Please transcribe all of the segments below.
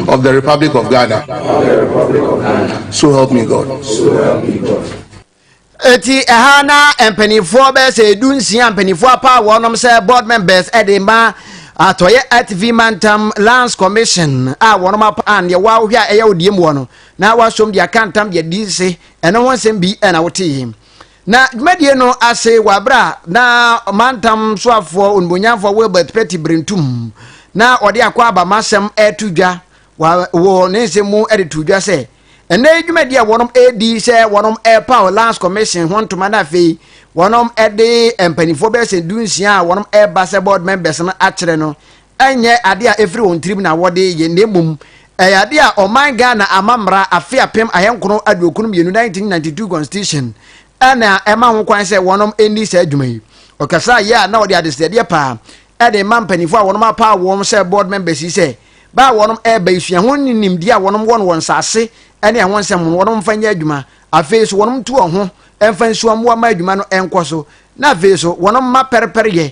of the Republic of Ghana. So help me God. Eti ɛha na mpanimfoɔ bɛyɛ sɛ edu nsia mpanimfoɔ apa wɔnom sɛ board members ɛde ma atɔyɛ atv mantam lands commission a wɔnom apa a deɛ wɔahohwɛ a ɛyɛ odie mu wɔ no na wɔasom deɛ aka ntam deɛ di se ɛno ho nsɛm bi ɛna wote yi. Na dwumadie no ase wɔ aberɛ a na ɔmantam soafoɔ onumonyamfoɔ Wilbert Petty Brentum na ɔde akwaaba masɛm reto dwa wɔ ne nsɛm mu de too dwa sɛ ɛnɛ yi dwumadie a wɔnom redi sɛ wɔnom repaw Lands Commission ho ntoma na afei wɔnom de mpanimfoɔ bɛyɛ sɛ du nsia a wɔnom reba sɛ board members no akyerɛ no ɛnyɛ adeɛ a ɛfiri wɔn tirim na wɔde yɛ na mmom ɛyɛ adeɛ a ɔman Ghana ama mmara afe apem ahenkron aduokron mmienu 1992 constitution ɛna ɛma ho kwan sɛ wɔnom ɛnni saa adwuma yi. Ɔkasaa yɛ a na ɔde adesrɛdeɛ paa ɛde ma mpanimfoɔ a wɔnom apaa wɔn sɛ board members yi sɛ baa wɔnom ɛreba yi sua ho ne nimdeɛ a wɔnom wɔn wɔn nsase ɛne ɛho nsɛm ho no wɔnom mfa nyɛ adwuma afei so wɔnom tu wɔn ho ɛmfa nsua mmoa ma adwuma no ɛnkɔ so na afei so wɔnom mma pɛrepɛreyɛ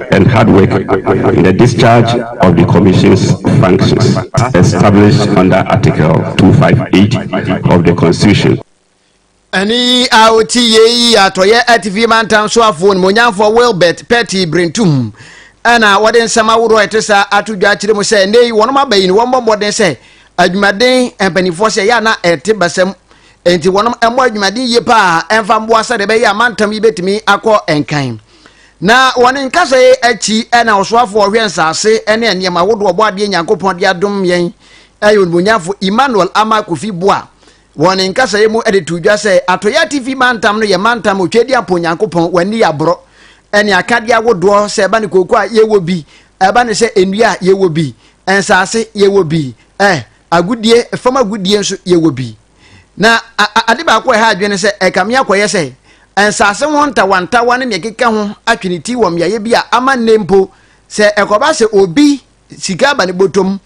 and hard work in the discharge of the Commission's functions as established under Article 258 of the Constitution. ɛne yi a ɔti yei atɔyɛ atifi mantam so afoɔ nimonyamfoɔ wilbert petty brentum ɛna wɔde nsɛm ahodoɔ ɛte saa ato dwa akyerɛ mu sɛ nnɛ yi wɔnom aba yi no wɔmmɔ mmɔden sɛ adwumaden mpanimfoɔ sɛ ɛyɛ ana ɛte basɛm enti wɔnom mmɔ adwumaden yie paa ɛmfa mmoa sɛdeɛ ɛbɛyɛ a mantam yi bɛtumi akɔ nkan Na wɔ ne nkasa yi akyi na ɔsoafo a ɔhwɛ nsase ne nneɛma ahodoɔ ɔbɔadeɛ Nyankopɔn de adom yɛn yɛ onimonyafo Emmanuel Ama Kofi Boa wɔ ne nkasa yi mu de too dwa sɛ Atɔeɛ Atifi mantam no yɛ mantam a otwa di apo Nyankopɔn wɔ ani aborɔ ne akadeɛ ahodoɔ sɛ ɛba ne kooko a yɛwɔ bi ɛba ne sɛ nnua a yɛwɔ bi nsase yɛwɔ bi eh agodie fam agodie nso yɛwɔ bi Na ade baako a ɛha adwene ne sɛ ɛkame akɔyɛ sɛ nsase ho ntawantawa ne nea ɛkeka ho atwe ne ti wɔ mmeaeɛ bi a ama nnɛ mpo sɛ ɛkɔba sɛ obi sika aba ne bɔtɔm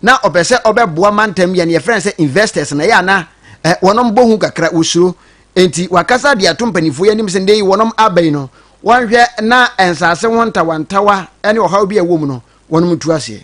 na ɔpɛ sɛ ɔbɛboa mantam yɛ no yɛfrɛ no sɛ investors na ɛyɛ a na wɔnom bɔ hu kakra wɔsuro nti wakasa de ato mpanimfoɔ yɛ anim sɛ nnɛ yi wɔnom aba yi no wɔnhwɛ na nsase ho ntawantawa ne ɔhaw bi a ɛwɔ mu no wɔnom tu aseɛ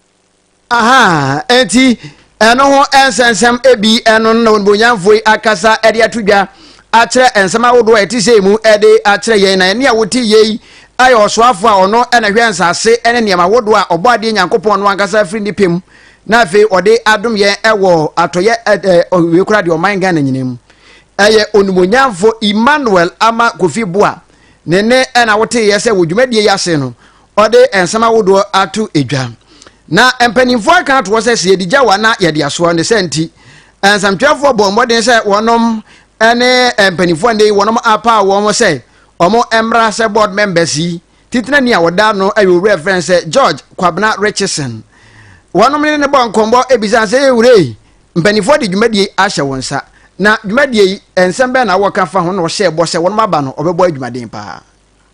aha nti ɛno ho nsɛnsɛm ebi ɛno na onibonyamfo yi akasa ɛde ato dwa akyerɛ nsɛm ahodoɔ a ɛte sɛ mu ɛde akyerɛ yɛn na ɛne a wote yei ayɛ ɔsoafo a ɔno ɛna hwɛ nsase ɛne nneɛma ahodoɔ a ɔbɔ adeɛ nyankopɔn no ankasa firi ne pɛm na afei ɔde adom yɛn ɛwɔ atɔyɛ ɛɛ ɔwie kora deɛ ɔman Ghana nyinaa mu ɛyɛ onibonyamfo Emmanuel ama kofi boa ne ne ɛna wote yɛ sɛ wɔ dwumadie yi ase no ɔde nsɛm ahodoɔ ato dwa na mpanimfoɔ aka ato hɔ sɛ sɛ yɛde gya wa na yɛde asoa ne sɛ nti nsɛmtwerɛfoɔ bɔ mmɔden sɛ wɔnom ne mpanimfoɔ ne wɔnom apaa wɔn sɛ wɔn mmra sɛ board members yi titena ni a wɔda no ayɛ owura frɛ sɛ George Kwabena Richardson wɔnom ne ne bɔ nkɔmmɔ ebisa sɛ ewura yi mpanimfoɔ de dwumadie ahyɛ wɔn nsa na dwumadie yi nsɛm bɛn na wɔka fa ho na wɔhyɛ bɔ sɛ wɔnom aba no wɔbɛbɔ adwumaden paa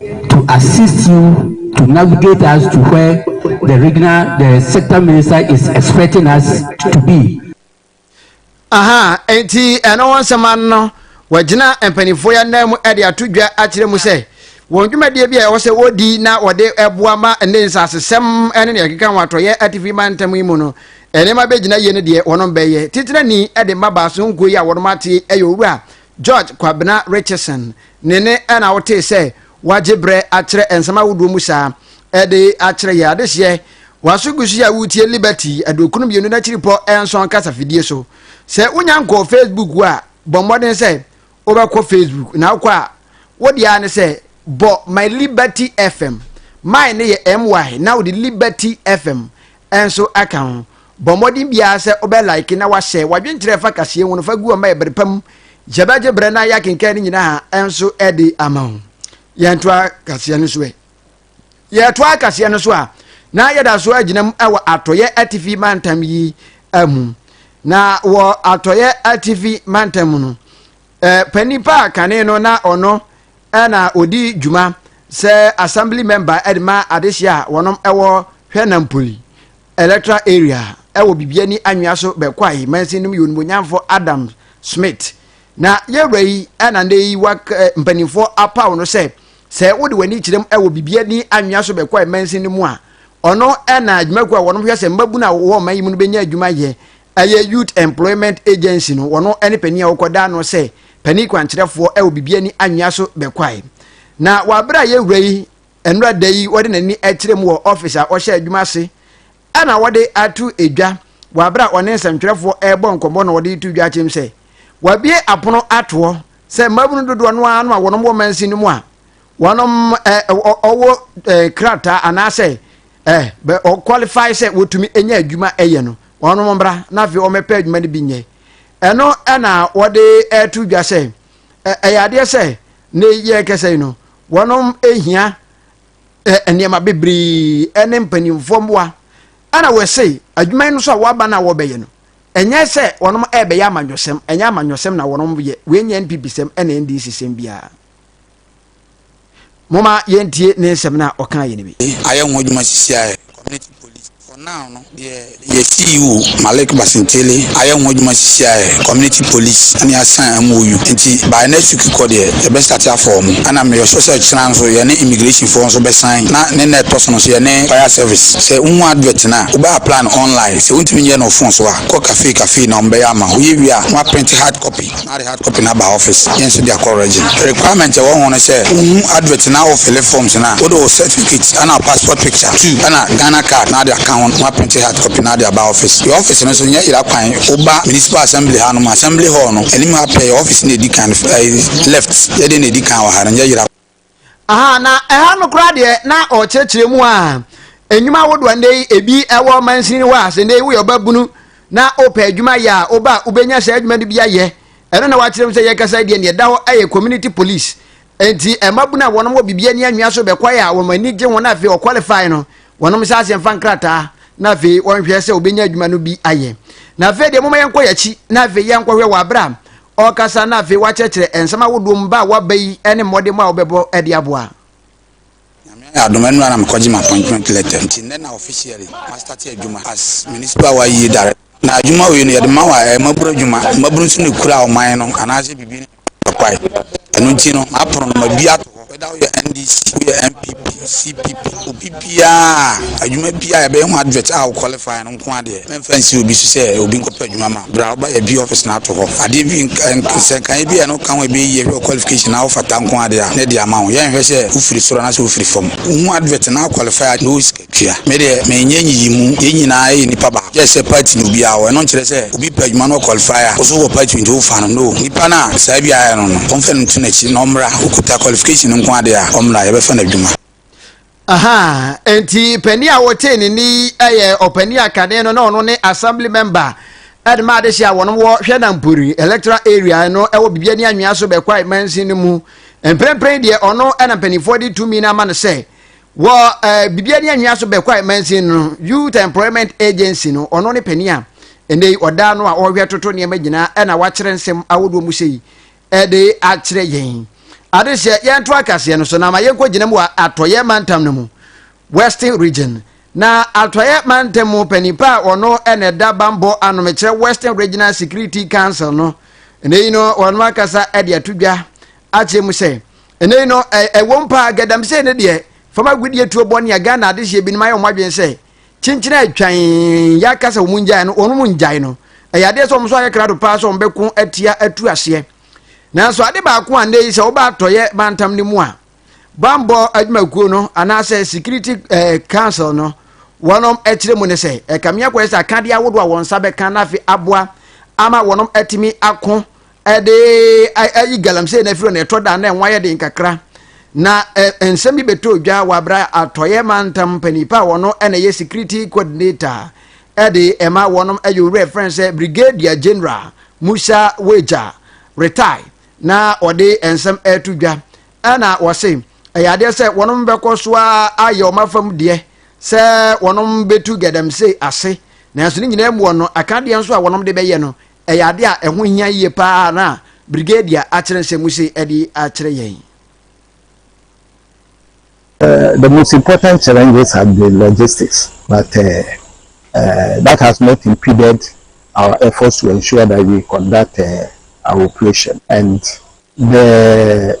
to assist you to navigate us to where the regional the sector minister is expecting us to be. aha nti ɛno ho nsɛm ano no wɔagyina mpanimfoɔ yɛ anan mu de ato dwa akyerɛ mu sɛ wɔn dwumadie bi a ɛwɔ sɛ wɔdi na wɔde ɛboa ma ne nsasesɛm ne ne ɛkeka ho atɔyɛ atifi mantam yi mu no nneɛma bɛgyina yie no deɛ wɔn bɛyɛ titirani de mmabaa so nkuo yi a wɔn ate ɛyɛ owura george kwabena richardson Ne ne na wotee sɛ wagye berɛ akyerɛ nsɛm ahodoɔ mu saa de akyerɛ yɛn adehyeɛ. W'aso gu so yɛ a woretie Liberty aduokron mmienu no akyiripɔ nson kasafidie so. Sɛ wonya nkɔɔ Facebook wo a, bɔ mmɔden sɛ wobɛkɔ Facebook. Na wokɔ a, wo deɛ ara ne sɛ bɔ My Liberty FM. My no yɛ MY na wode Liberty FM nso aka ho. Bɔ mmɔden biara sɛ wobɛ like na wahyɛ wadwenkyerɛ ɛfa kaseɛ ho no fa gu ɔma yɛ bere pa mu yɛbɛgye bere na yɛakenkan no nyinaa ɛnso ɛde ama ho yɛntoa kaseɛ no so ɛ yɛtoa kaseɛ no so a na yɛda so agyina mu ɛwɔ atɔyɛ atifi mantam yi mu na wɔ atɔyɛ atifi mantam mu no panyin pa a kane no na ɔno ɛna ɔdi dwuma sɛ assembly member ɛde ma adehyeɛ a wɔnom ɛwɔ hwɛ nampoli Electoral Area ɛwɔ Bibiani Anwea so bɛkwae mansin nom yɛ onimuonyamfo Adam Smith na yɛwura yi ɛna ndɛ yi wak eh, mpanimfoɔ apaw no sɛ sɛ wode w'ani kyerɛm ɛwɔ Bibiani Anwea so bɛkwae mansin no mu a ɔno ɛna adwumakuo a wɔnom hwɛ sɛ mmabunu a wɔwɔ ɔman yi mu no bɛnya adwuma yɛ ɛyɛ Youth Employment Agency no wɔno ɛne panin a wɔkɔ daa no sɛ panin kwankyerɛfoɔ ɛwɔ Bibiani Anwea so bɛkwae na wɔ abere a yɛwura yi Nnora da yi wɔde n'ani kyerɛ mu wɔ ɔfis a ɔhyɛ adwuma ase na wɔde ato dwa wɔ bere a ɔne nsɛntwerɛfoɔ rebɔ nkɔmmɔ na ɔde reto dwa akyem sɛ wabue apono ato hɔ sɛ mmabunu dodoɔ no ara no a wɔnom wɔ mansin no mu a wɔnom ɔwɔ krataa anaasɛ ɔqualify sɛ wɔtumi nya adwuma yɛ no wɔnom mbra na afei wɔmɛpɛ adwuma no bi nyɛ ɛno na wɔde ato dwa sɛ ɛyɛ adeɛ sɛ ne yɛ kɛsɛ yi no wɔnom hia nneɛma bebree ne mpanimfoɔ mmoa ɛna wɔse adwuma yi no so a wɔaba no a wɔbɛyɛ no ɛnyɛ sɛ wɔnom ɛbɛyɛ amanyɔsɛm ɛnyɛ amanyɔsɛm na wɔnom yɛ wɔnyɛ npp sɛm ɛna ndc sɛm biara moma yɛntie ne nsɛm no a ɔka yɛ no bi ayɛ ho adwuma sisiaɛ Community Police. For now no, deɛ yɛ CEO Malik Basintele ayɛ ho adwuma sisi ara yɛ Community Police ɛna yɛasan MOU nti by next week kɔ deɛ yɛbɛ start afɔ wɔn ɛna meyɔ sure sɛ kyena nso yɛne Immigration foɔ nso bɛsan na ne na ɛtɔ so no nso yɛne Fire Service. Sɛ wohu advert no a, wobɛ apply no online, sɛ wontumi nyɛ no wo phone so a, kɔ cafe cafe na wɔbɛyɛ ama wo, woyɛ wie a na woaprinte hard copy. na de hard copy no aba office yɛn so de akɔ regin. Requirement ɛwɔ ho ne sɛ wo hu advert na wo fille forms no a wode wo certificate ɛna wo passport picture two ɛna Ghana card na de aka ho na wa printe hard copy na de aba office. Yɛ office no so nyɛ yera kwan wo ba municipal assembly ha nom assembly hall no anim ha pɛ yɛ office na edi kan no fɛ ɛyi left yɛ deɛ na edi kan wɔ ha no nyɛ yera kwan. aha na ɛha no koraa deɛ na ɔkyerɛkyerɛ mu a nnwuma ahodoɔ ndɛ yi ebi ɛwɔ mansini hɔ a sɛ ndɛ yi woyɛ ɔba bunu na wopɛ adwuma yɛ a woba a wobɛnya saa adwuma no bi ayɛ ɛno na wakyerɛ mu sɛ yɛkasa deɛ neɛ ɛda hɔ ɛyɛ community police nti ɛma bunu a wɔn wɔ biribi ani anwea so bɛkwae a wɔn ani gye wɔn afei ɔkwalifai no wɔn nsa ase mfa nkrataa na afei wɔnhwɛ sɛ wobɛnya adwuma no bi ayɛ na afei deɛ moma yɛnkɔ yɛakyi na afei yɛnkɔhwɛ wɔ abera ɔrekasa na afei wakyerɛkyerɛ nsɛm ahodoɔ mu ba a waba yi ne mmɔdemmɔ a wobɛbɔ de aboa. Nyame ayɛ adom ɛnora na mekɔgye m'appointment letter nti nnɛ na officially mastate adwuma as Municipal Awa Ayie Director. Na adwuma wei no yɛde ma awa ɛyɛ mmaburu adwuma, mmaburu nso na ɛkura ɔman no anaasɛ biribi no kwae, ɛno nti no m'apono no mabue ato hɔ. whether woyɛ NDC, woyɛ NPP, CPP, obi biara, adwuma biara yɛbɛyɛ ho advert a wo qualify no nko adeɛ. Mɛmfa nsi obi so sɛ obi nkɔpɛ adwuma ma. Bra woba yɛ bi office na ato hɔ. Adeɛ bi nsɛnkaeɛ bi a ɛno ka ho ɛbɛyɛ yie hwɛ qualification na wofata nko adeɛ a na ɛde ama wo. Yɛnhwɛ sɛ wofiri soro anaasɛ wofiri fam. Wohu advert na wo qualify a na wo sika. tua. Me deɛ menyɛ nyiyimu, yɛn nyinaa yɛyɛ nipa baako just sɛ party na obiara wɔ, ɛno nkyerɛ sɛ obi pɛ adwuma na ɔ qualify a wo nso wowɔ party nti wofa no, no, nipa no a saa bi ayɛ no no wɔmfa no nto n'akyi na ɔmmra, okuta qualification no nko ara deɛ a ɔmmra yɛbɛfa no adwuma. Ahaa, enti panin a wotee ne nne yi yɛ ɔpanin a kane no na ɔno ne assembly member de ma adehye a wɔnom wɔ Hwɛnampori electoral area no wɔ Bibia ne Anwea so Bɛkwae mansin no mu. Mprempren deɛ ɔno na mpanimfoɔ de tumi no ama no sɛ wɔ ɛɛ biribiara ni anwia so bɛkɔ a mansin no youth employment agency no ɔno ne panin a ɛnna yi ɔdaa no a ɔhwɛ toto nneɛma nyinaa ɛna wakyerɛ nsɛm ahodoɔ mu sɛ yi ɛde akyerɛ yɛn ade sɛ yɛnto akaseɛ no so na ma yɛnkɔ gyina mu wɔ atɔyɛ mantam no mu western region na atɔyɛ mantam mu panin pa a ɔno ɛna ɛda bambɔ anomekyerɛ western regional security council no ɛnna yi no ɔno akasa ɛde ato dwa akyerɛ mu sɛ ɛnɛ yi no ɛwɔ mpa galamsey no deɛ fam agudeɛ tuo bɔne a ghana adehyeɛ binom ayɛ wɔn adwene sɛ kyenkyen a atwan yɛaka sɛ wɔn ngyae no wɔn mu ngyae no ɛyɛ adeɛ sɛ wɔn nso ayɛ krado paa sɛ wɔn bɛko atia atu aseɛ nanso ade baako a nnɛ yi sɛ wɔba atɔyɛ mantam no mu a bambɔ adwumakuo no anaasɛ security eh, council no wɔnom ɛkyerɛ mu ne sɛ ɛkame akɔyɛ sɛ akadeɛ ahodoɔ a wɔn nsa bɛka no afe aboa ama wɔnom atumi ako ɛde ayi galamsey na afiri na ɛtɔ da na ɛnwa yɛ den kakra na nsɛm bi bɛtɔ dwa wɔ abira atɔyɛ mantam panipa a wɔn na ɛyɛ security coordinator ɛde ɛma wɔn ɛyɛ owurɛ fɛn sɛ brigadier general musa wagya retire na ɔde nsɛm ɛto dwa ɛna wɔse ɛyɛ adeɛ sɛ wɔn bɛkɔ so ayɛ wɔn afam deɛ sɛ wɔn bɛtu galamsey ase nanso ne nyinaa mu wɔn akadeɛ nso a wɔn de bɛyɛ no ɛyɛ ade a ɛho hia yie paa na Brigadier akyerɛ nsɛm mu sei ɛde akyerɛ yɛn. Uh, the most important challenges have been logistics, but uh, uh, that has not impeded our efforts to ensure that we conduct uh, our operation. And the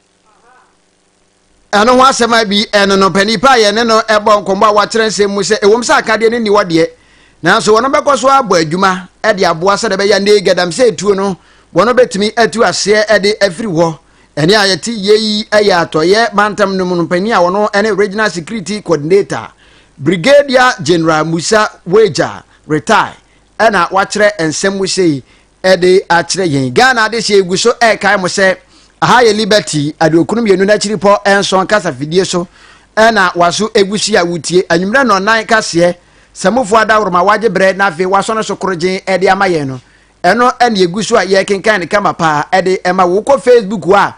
ɛno ho asɛm a bi ɛno no pɛ nipa a yɛne no ɛbɔ nkɔmmɔ a wakyerɛ nsɛm mu sɛ ɛwom sɛ akadeɛ no nni hɔ deɛ nanso wɔn bɛkɔ so abɔ adwuma ɛde aboa sɛ ɛbɛyɛ ne gadamsɛ etuo no wɔn bɛtumi atu aseɛ ɛde afiri hɔ ɛne a yɛte yei ɛyɛ atɔyɛ mantam no mu no panyin a wɔn ɛne regional security coordinator brigadier general musa wager retire ɛna wakyerɛ nsɛm mu sei ɛde akyerɛ yɛn. Ghana adehyeɛ gu so ɛrekae mo sɛ aha yɛ Liberty aduokunu mmienu n'akyiripɔ nson kasafidie so na waso egu so yi a wotie anwummerɛ nnɔnnan kaseɛ samufo adaworo ma wagye berɛ na afei wasɔ no so korogyen de ama yɛn no ɛno na egu so a yɛrekenkan no kama paa ɛde ɛma wokɔ Facebook a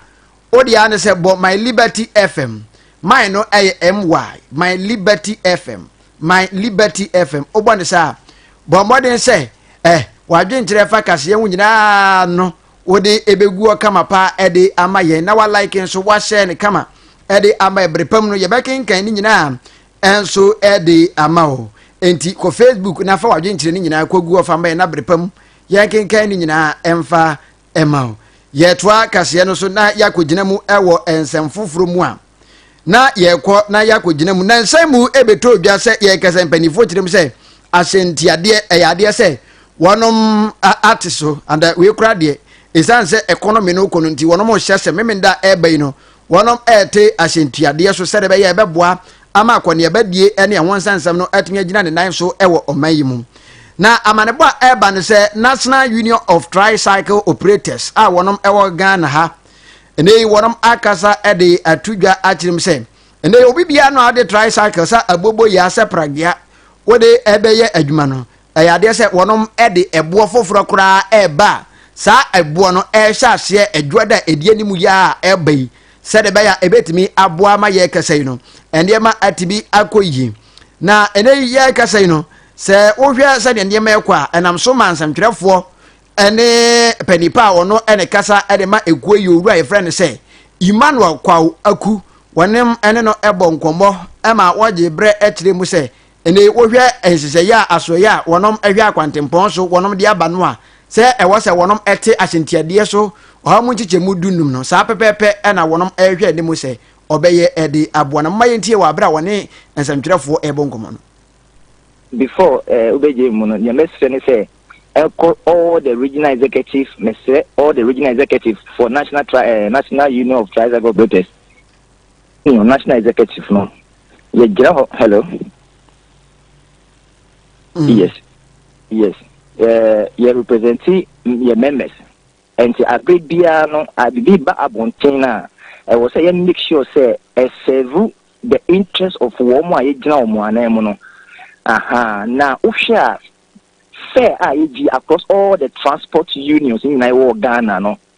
Wo deɛ ano sɛ bɔ my liberty fm my no ɛyɛ my my liberty fm my liberty fm wobɔ ne saa bɔ mmɔden sɛ eh wadwenkyerɛ fa kaseɛ ho nyinaa no wode ɛbɛgu hɔ kama paa ɛde ama yɛn na walike nso wahyɛ ne kama ɛde ama ɛbere pam no yɛbɛkenkan ne nyinaa ɛnso ɛde ama o nti kɔ facebook na fa wadwenkyerɛ ne nyinaa kɔgu hɔ fa ma yɛn na bere pam yɛnkenkan ne nyinaa ɛmfa ma wo. Yɛtoa kaseɛ no so na yɛakɔgyina mu wɔ nsɛm foforɔ mu a, na yɛkɔ na yɛakɔgyina mu. Na nsɛm mu bɛtɔ dwa sɛ yɛkasa mpanimfoɔ kyerɛ mu sɛ ahyɛntiadeɛ ɛyɛ adeɛ sɛ wɔnom ate so. And wei kora deɛ, ɛsiane sɛ ɛkɔnɔmi no kɔ no nti, wɔnom hyɛ sɛ memenda ɛba yi no, wɔrete asɛntuadeɛ so sɛdeɛ ɛbɛyɛ ɛbɛboa ama akɔneabadie ne ɛho nsɛnsɛm no atumi agyina ne nan so wɔ ɔman yi mu na amanebɔ a ɛreba no sɛ national union of tricycle operators a wɔnom ɛwɔ ghana ha ɛnɛ yi wɔnom akasa de ato dwa akyerɛ mu sɛ ɛnɛ obi biara no a ɔde tricycle sɛ abobo yɛ asɛ pragea wode ɛbɛyɛ adwuma no Ɛyɛ adeɛ sɛ wɔnom de ɛboɔ foforɔ koraa reba a, saa ɛboɔ no rehyɛ aseɛ ɛdwoɔ da a ɛdi anim yi ara a ɛreba yi, sɛdeɛ ɛbɛyɛ a ɛbɛtumi aboa ama yɛn kasa yi no nneɛma atumi akɔ yie. Na ɛnnɛ yi yɛn kasa yi no, sɛ wohwɛ sɛdeɛ nneɛma rekɔ a, ɛnam so ma nsɛmtwerɛfoɔ ne panipa a ɔno ne kasa de ma ekuo yi owura a yɛfrɛ no sɛ Emmanuel Kwawo Aku wɔnom ne no bɔ nkɔmmɔ ma wɔgye berɛ kyerɛ mu sɛ ɛne wohwɛ nhyehyɛeɛ a asoɛeɛ a wɔnom hwɛ akwantempɔn so wɔnom de aba no a sɛ ɛwɔ sɛ wɔnom ɛte ahyɛntiadeɛ so ɔha mu nkyekyɛmu du num no saa pɛpɛɛpɛ ɛna wɔnom ɛhwɛ anim sɛ ɔbɛyɛ ɛde aboa no mma yɛntie wɔ abere a wɔne nsɛmtwerɛfoɔ ɛbɔ nkɔmɔ no. Before eh, wobɛgye mu no deɛ mɛsrɛ ne sɛ ɛkɔ all the regional executive mɛsrɛ all the regional executive for national tri, eh, national union of tricycle operators no national executive no yɛgyina hɔ hello mm. yes yes eh, yɛ representi yɛ members nti abere biara no bibi ba abɔnten no a ɛwɔ sɛ yɛ make sure sɛ ɛsɛvu the interest of wɔn a yɛgyina wɔn anan mu no aha na wohwɛ a fare a yɛgye across all the transport unions nyinaa wɔ ghana no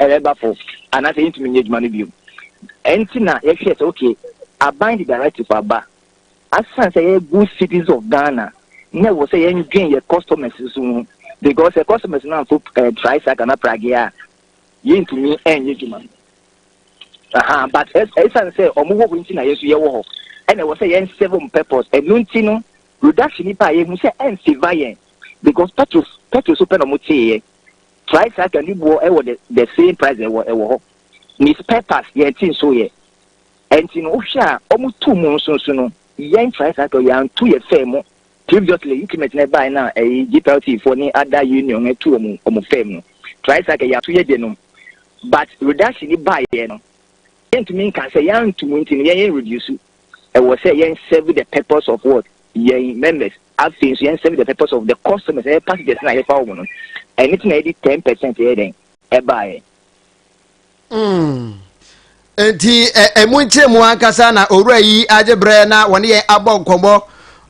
ɛreba po anaasɛ yɛntumi nyɛ adwuma no bio. Ɛnti na yɛhwɛɛ sɛ okay, aban de directive aba, asiane sɛ yɛyɛ good citizens of Ghana na ɛwɔ sɛ yɛndwen yɛ customers nso ho because sɛ customers no amfo eh, tricycle na prage a yɛntumi ɛnyɛ adwuma no. Aha, but ɛsiane sɛ ɔmo wɔ hɔ nti na yɛn nso yɛwɔ hɔ ɛna ɛwɔ sɛ yɛn serve ɔmo purpose ɛno nti no reduction nipa a yɛhu sɛ ɛnseva yɛn because petrol petrol so pɛ na ɔmo teeɛ. Price aka ne boɔ ɛwɔ the the same price ɛwɔ ɛwɔ hɔ ne spare parts yɛn ti nso yɛ ɛnti no wohwɛ a ɔmo tu mu nso nso no yɛn price aka yɛn antu yɛ fɛn mu previously increment na ɛbaa na ɛyi GPLT foɔ ne ada union no ɛtu ɔmo ɔmo fɛn mu price aka yɛn ato yɛ de no but reduction ni baa yɛ no yɛntumi nka sɛ yɛn antu mu nti no yɛn yɛn reduce. ɛwɔ sɛ yɛn serve the purpose of what yɛn members afei nso yɛn serve the purpose of the customers ɛyɛ passengers na yɛfa wɔn no ɛne ti na yɛde ten percent yɛ dɛn ɛbaayɛ. Hmm. nti ɛmu nkyɛn mu ankasa na owura yi agye brɛ na wɔne yɛn abɔ nkɔmmɔ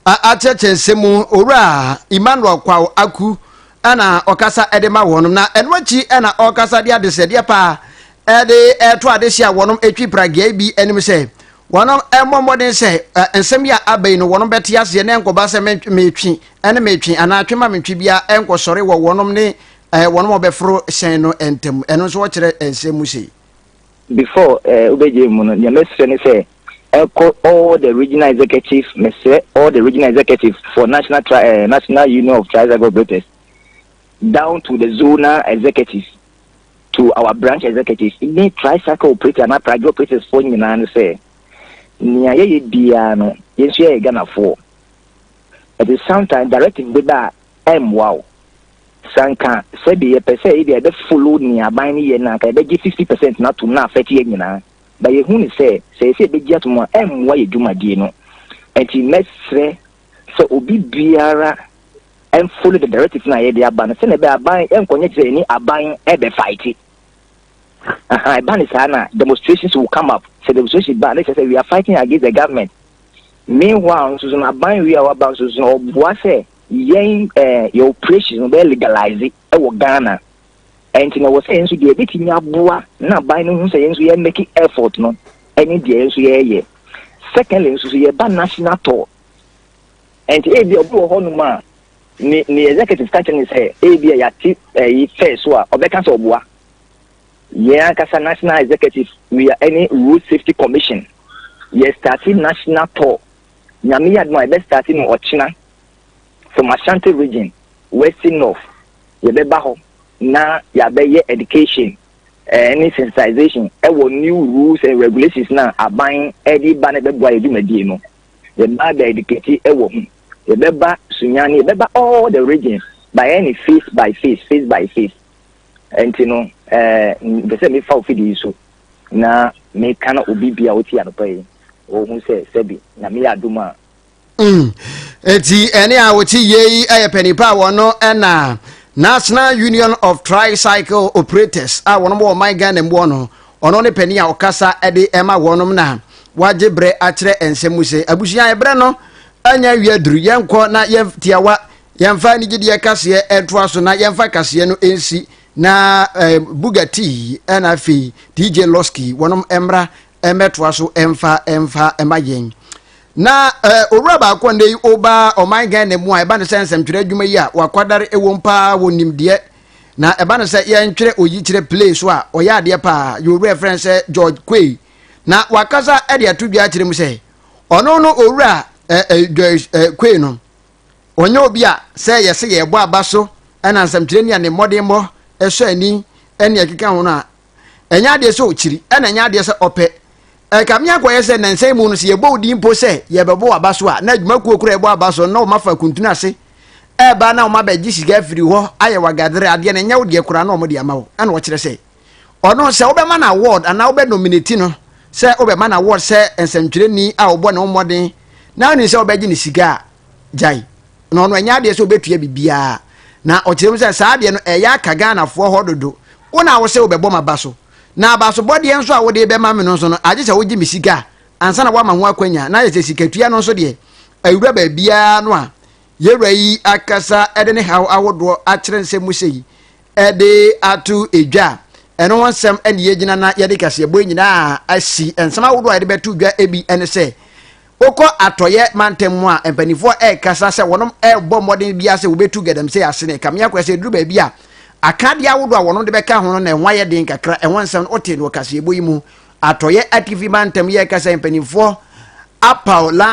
akyerɛkyerɛ nsɛm mu owura emmanuel kwaw aku ɛna ɔkasa ɛde ma wɔn na ɛno akyi ɛna ɔkasa de adesɛdeɛ paa de reto adehye a wɔnom atwi pragiai bi anim sɛ wɔnom mmɔ mmɔden sɛ nsɛm yi a aba yi no wɔnom bɛte aseɛ na ɛnkɔba sɛ metwi ne metwe anaa twe ma mentwe biara ɛnkɔsɔre wɔ wɔnom ne wɔnom ɔbɛforo hyɛn no ntam ɛno nso wɔkyerɛ nsɛm mu sei before uh, ubegye mu no nea mɛsrɛ ne sɛ ɛkɔ all the regional executive mɛsrɛ all the regional executive for national tri uh, national union of tricycle operators down to the zonal executives to our branch executives ne tricycle operators anaa pragye operators foɔ nyinaa ne sɛ nea yɛyɛ biara no yɛn nso yɛyɛ Ghanafoɔ ɛti sometimes directive bi ba a ɛmmoa wo sanka sɛbi yɛpɛ sɛ ebi a yɛbɛ follow nea aban no yɛ no anka yɛbɛgye fifty percent no atom na afɛte yɛ nyinaa ba yɛhu ne sɛ sɛ yɛsɛ yɛbɛgye atom a ɛmmoa yɛ dwumadie no ɛti mɛsrɛ sɛ obi biara follow the directives na yɛde aba no sɛnea ɛbɛyɛ aban nkɔnyɛ kyerɛ ɛni aban ɛbɛ fight aha ɛba ne saa na demonstrations will come up sɛ demonstration ba ne kyerɛ sɛ we are fighting against the government meanwhile nso so no aban wi a waba nso so no ɔboa sɛ yɛn ɛɛ eh, yɛ operation no bɛyɛ legalize ɛwɔ ghana Ɛnti na ɛwɔ sɛ yɛn nso deɛ ɛbɛtumi aboa na aban no hu sɛ yɛn nso yɛ make effort no ɛne deɛ yɛn nso yɛyɛ. Secondly nso so yɛba national tour. Ɛnti ebi ɔbi wɔ hɔnom a ne ne executive ka kyerɛ ne sɛ ebi a yɛate ɛyi fɛɛ so a ɔbɛka sɛ ɔboa. Yɛn ankasa national executive we are ɛne road safety commission yɛ start national tour nyame yɛ adum a yɛbɛ start no ɔkyena from Ashanti region west north yɛbɛba hɔ na yɛabɛyɛ education eh, ne sensitization ɛwɔ eh, new rules and regulations na aban ɛde eh, ba na ɛbɛboa yɛ dwumadie no yɛba bɛ educate ɛwɔ ho yɛbɛba sunyane yɛbɛba all the regions by any eh, face by face face by face nti no ɛɛ mpɛ sɛ mefa ofi de yi so na meka na obi bia ɔti anɔpa yi ɔhu sɛ sɛbi na meyɛ adom a Mm. Eti ɛne a wɔte yei yɛ panipa a wɔn ɛna National Union of Tricycle Operators a wɔn wɔ ɔman Ghana mu no ɔno ne panin a ɔkasa de ɛma wɔn na wagye berɛ akyerɛ nsɛm mu sɛ abusua ɛberɛ no anya awie aduru yɛnkɔ na yɛtiawa yɛmfa anigyedeɛ kaseɛ ɛntoa so na yɛmfa kaseɛ no ɛnsi na eh, Bugatti ɛna afei DJ Losky wɔn mmra mmɛtoa so mfa mfa ma yɛn na owura baako nnɛ yi ɔba ɔman ghana mu a ɛba ne sɛ nsɛmtwerɛ adwuma yi a wakwadare ɛwom paa wɔ nimdeɛ na ɛba ne sɛ yɛntwerɛ oyikyerɛ play so a ɔyɛ adeɛ paa yɛ owura frɛ sɛ george kwei na wakasa de ato dwa akyerɛ mu sɛ ɔno no owura george kwei no ɔnyɛ obi a sɛ yɛsɛ yɛbɔ aba so ɛna nsɛmtwerɛ ni a ne mmɔdenmmɔ ɛsɔ ani ɛne ɛkeka ho no a ɛnyɛ adeɛ sɛ ɔkyiri ɛna ɛnyɛ adeɛ sɛ ɔpɛ ɛka me akɔyɛ sɛ nansa mu no sɛ yɛbɔ wo din mpo sɛ yɛbɛbɔ waba so a na adwumakuo kora ɛbɔ aba so na wɔn afa kuntunu ase ɛba na wɔn abɛgye sika afiri hɔ ayɛ wagadere adeɛ na ɛnyɛ wo deɛ kora na wɔn de ama wo ɛna ɔkyerɛ sɛ ɔno sɛ wobɛma no award anaa wobɛ nominate no sɛ wobɛma no award sɛ nsɛntwerɛni a wɔbɔ ne ho mmɔden na woni sɛ wobɛgye ne sika a gyae na ɔno ɛnyɛ adeɛ sɛ ɔbɛtua biribiara na ɔkyerɛ mu sɛ saa adeɛ no ɛyɛ aka Ghanafoɔ hɔ dodo wo na wo sɛ wobɛbɔ m'aba so na abasobɔdeɛ nso a wode bɛma me no nso no agye sɛ wogye me sika a ansa na woama ho akwanya na ayɛ sɛ sikatua no nso deɛ awura baabiara no a yɛwura yi akasa de ne haw ahodoɔ akyerɛ nsɛm mu sɛ yi de ato edwa a ɛno ho nsɛm ne yɛgyina na yɛde kaseɛbɔ nyinaa asi nsɛm ahodoɔ a yɛde bɛto dwa bi ne sɛ Wokɔ Atɔeɛ mantam mu a, mpanimfoɔ rekasa sɛ wɔrebɔ mmɔden biara sɛ wɔbɛtu galamsey ase ne kamea kora sɛ ɛduru baabi a, akadeɛ ahodoɔ a wɔde bɛka ho no na ɛho ayɛ den kakra. Ɛho nsɛm no, wotee no wɔ kaseɛbɔ yi mu. Atɔeɛ Atifi Mantam yi rekasa yi, mpanimfoɔ apaw Lance